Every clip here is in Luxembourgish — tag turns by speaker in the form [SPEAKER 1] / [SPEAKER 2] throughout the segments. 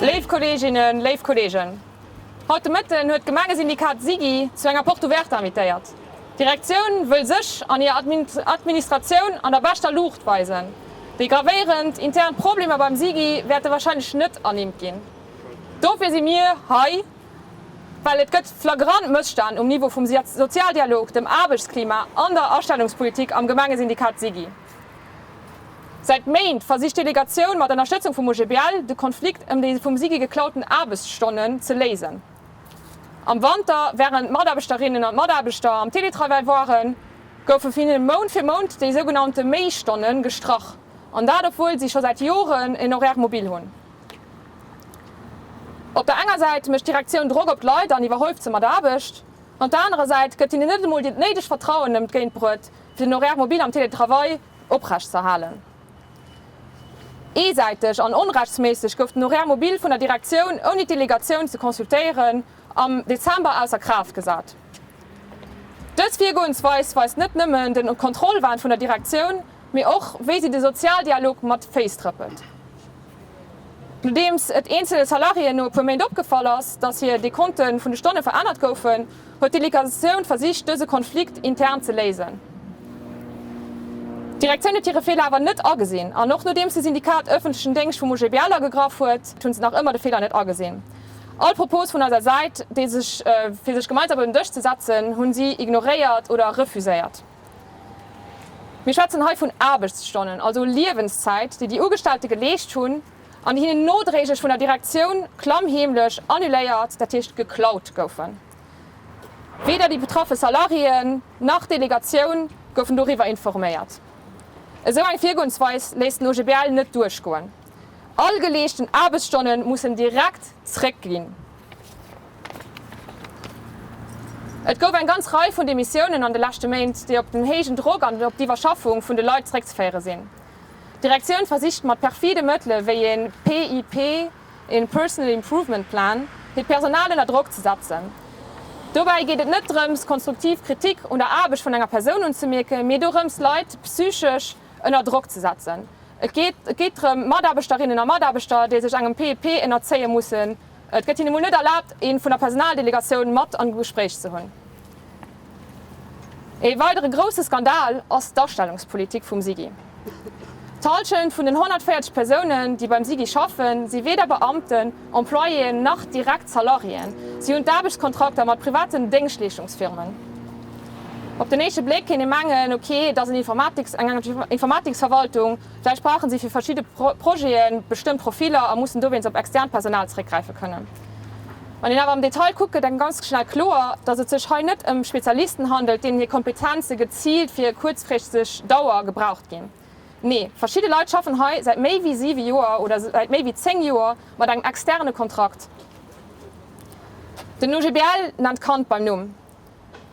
[SPEAKER 1] Léif Kolleeginnen, léif Kolleegen, haut de Mëtten huet d'Gemengesyndikat SIGI zu enger Porte Ouverte invitéiert. D'Direktioun wëll sech an hir Administratioun an der beschter Luucht weisen. Déi gravéierend intern Problemer beim SIGI wäerte wahrscheinlech net ernimmt ginn. Dofir si mir hei Well et gëtt flagrant Mësstänn um Niveau vum Sozialdialog, dem Aarbechtsklima an der Astellungspolitik am Gemengesyndikat SIGI. Säit Méint versicht d'Delegatioun mat Ënnerstëtzung vum OGBL de Konflikt ëm déi vum SIGI geklauten Aarbechtsstonnen ze léisen. Am Wanter, wärend d'Mataarbechterinnen an d'Mataarbechter am Teletravail waren, goufe vun hinne Mount fir Mount déi sougenannte Méistonne gestrach, an dat obwuel si scho säit Joren en Horaire mobile hunn. Op der enger Säit mécht d'Direktioun Drock op d'Leit an iwwerhëlft se mat Aarbecht. An op der anerer Säit gëtt hinnen net emol dat néidegt Vertrauen entgéintbruet, fir den Horaire mobile am Télétravail oprecht ze erhalen. Eesäiteg an onrechtsméisseg gouf den Horaire mobile vun der Direktioun, ouni d'Delegatioun ze consultéieren, am Dezember ausser Kraaft gesat. Dës Virgoensweis weist net nëmmen den Kontrollwahn vun der Direktioun, Mee och, wéi si de Sozialdialog mat Féiss trëppelt. Nodeems et eenzele Salariéen no e puer Méint opgefall ass, datt hir Dekonte vun de Stonne verännert goufen, huet d'Delegation versicht, dëse Konflikt intern ze léisen. D'Direktioun huet hire Feeler awer net agesinn. An och nodeems de Syndikat ëffentlechen Déngscht vum OGBL agegraff huet, hunn se nach ëmmer de Feeler net agesinn. All Propose vun eiser Säit, fir sech gemeinsam un den Dësch ze setzen, hunn si ignoréiert oder refuséiert. Mir schwätzen hei vun Aarbechtsstonnen, also Liewenszäit, déi déi Ugestellte geleescht hunn an déi hinnen nodréiglech vun der Direktioun klammheemlech annuléiert, dat heescht geklaut goufen. Weder déi betraffe Salariéen nach d'Delegatioun goufen doriwwer informéiert. Esou eng Virgoensweis léisst den OGBL net duerchgoen. All geleeschten Aarbechtsstonne mussen direkt zréckginn. Et gouf eng ganz Rei vun Demissiounen an de leschte Méint, déi op den héijen Drock an op d'Iwwerschaffung vun de Leit zeréckzeféiere sinn. D'Direktioun versicht mat perfide Mëttele wéi ee PIP, ee Personal Improvement Plan, hiert Personal ënner Drock ze setzen. Dobäi geet et net drëms, konstruktiv Kritik un der Aarbecht vun enger Persoun unzemierken, mee dorëms, Leit psychesch ënner Drock ze setzen. Et geet drëm, Mataarbechterinnen a Mataarbechter, déi sech engem PIP ënnerzéie mussen, Et gëtt hinne mol net erlaabt, ee vun der Personaldelegatioun mat an e Gespréich ze hunn. Ee weidere grousse Skandal ass d'Astellungspolitik vum SIGI. D'Hallschent vun den 140 Persounen, déi beim SIGI schaffen, si weder Beamten, Employéeën nach direkt Salariéeën. Si hunn d'Aarbechtskontrakter mat privaten Déngschtleeschtungsfirmen. Op den éischte Bléck kéint ee mengen, ok, et ass en Informatics, eng Informaticsverwaltung. Vläicht brauche si fir verschidde Projete bestëmmt Profiller a mussen dowéinst op externt Personal zeréckgräife kënnen. Wann een awer am Detail kuckt, gëtt engem ganz schnell kloer, datt et sech hei net ëm Spezialisten handelt, deenen hir Kompetenze geziilt fir e kuerzfristeg Dauer gebraucht ginn. Nee, verschidde Leit schaffen hei säit méi wéi siwe Joer oder säit méi wéi zéng Joer mat engem externe Kontrakt. Den OGBL nennt d'Kand beim Numm.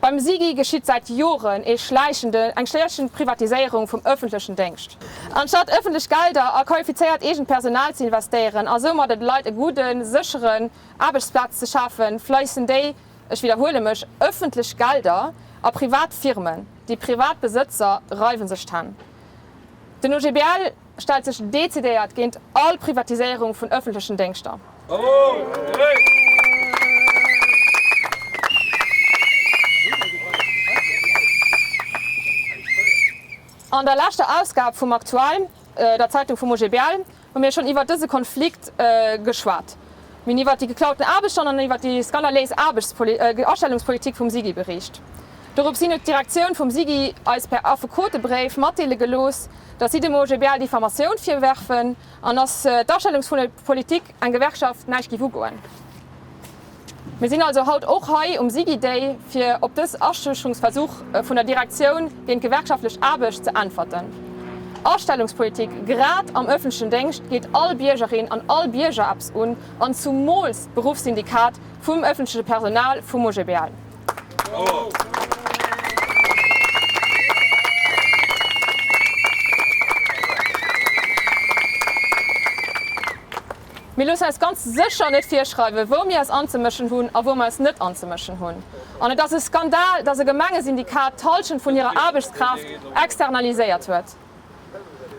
[SPEAKER 1] Beim SIGI geschitt säit Joren ee schläichenden, eng schläichend Privatiséierung vum ëffentlechen Déngscht. Anstatt ëffentlech Gelder a qualifizéiert eegent Personal ze investéieren a soumat et Leit e gudden, sécheren Aarbechtsplatz ze schafen, fléissen déi, ech widderhuele mech, ëffentlech Gelder a privat Firmen. Déi privat Besëtzer reiwen sech d'Hänn. Den OGBL. stellt sech decidéiert géint all Privatiséierung vun ëffentlechen Déngschter. An der leschter Ausgab vum Aktuell, der Zeitung vum OGBL, hu mir schonn iwwert dëse Konflikt geschwat. Mir hunn iwwert déi geklauten Aarbechten an iwwert déi skandaléis Astellungspolitik vum SIGI bericht. Dorops hin huet d'Direktioun vum SIGI eis per Affekotebréif matdeele gelooss, datt si dem OGBL Diffamatioun virwerfen an datt d'Astellungs vun der Politik eng Gewerkschaft näischt géif ugoen. Mir sinn also haut och hei um SIGI Day, fir op dës Aschüchterungsversuch vun der Direktioun géint gewerkschaftlech Aarbecht ze äntwerten. Astellungspolitik, grad am ëffentlechen Déngscht, geet all Biergerin an all Bierger eppes un, an zumools d'Beruffssyndikat vum ëffentleche Personal vum OGBL. Mir loosse eis ganz sécher net virschreiwen, wou mir eis anzemëschen hunn a wou mir eis net anzemëschen hunn. An et ass e Skandal, dass e Gemengesyndikat d'Hallschent vun hirer Aarbechtskraaft externaliséiert huet.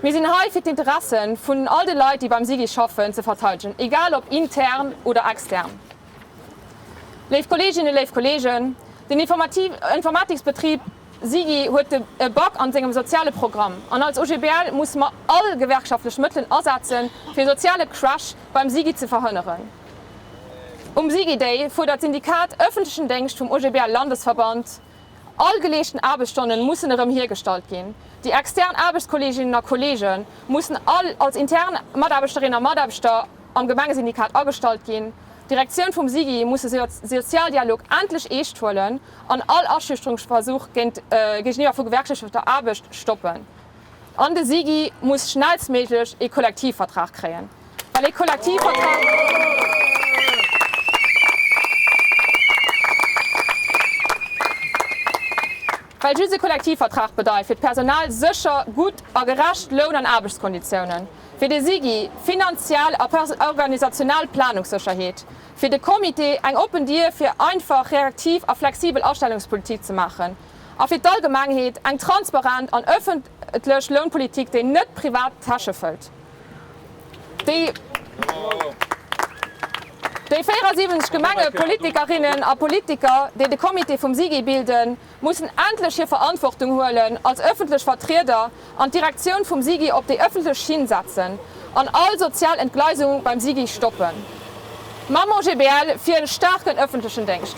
[SPEAKER 1] Mir sinn hei, fir d'Interesse vun all de Leit, déi beim SIGI schaffen, ze verteidegen, egal ob intern oder extern. Léif Kolleeginnen, léif Kolleegen, den Informatiksbetrib SIGI huet e Bug an sengem soziale Programm an als OGBL musse mer all gewerkschaftlech Mëttelen asetzen, fir e soziale Crash beim SIGI ze verhënneren. Um SIGI Day fuerdert d'Syndikat Öffentlichen Déngscht vum OGBL-Landesverband, All geleeschten Aarbechtsstonnen mussen erëm hiergestallt ginn. Déi extern Aarbechtskolleeginnen a Kolleege mussen all als intern Mataarbechterinnen a Mataarbechter, am Gemengesyndikat agestallt ginn, d'Direktioun vum SIGI muss de Sozialdialog endlech eescht huelen an all Aschüchterungsversuch géigeniwwer vu gewerkschaftlecher Aarbecht stoppen. An de SIGI muss schnellstméiglech ee Kollektivvertrag kréien, well ee Kollektivvertrag bedeit fir d'Personal sécher, gutt a gerecht Loun an Aarbechtskonditiounen. Fir de SIGI finanziell a organisational Planungssécherheet. Fir de Comité eng oppen Dier fir einfach, reaktiv a flexibel Astellungspolitik ze maachen. A fir d'Allgemengheet eng transparent an ëffentlech Lounpolitik, déi net privat Täsche fëllt. Déi 74 Gemengepolitikerinnen a politiker, déi de Comité vum SIGI bilden, mussen endlech hir Verantwortung huelen als ëffentlech Vertrieder an d'Direktioun vum SIGI op déi ëffentlech Schinn setzen an all sozial Entgleisung beim SIGI stoppen. D'Mamo GbL fir en staarken ëffentlechen Déngscht!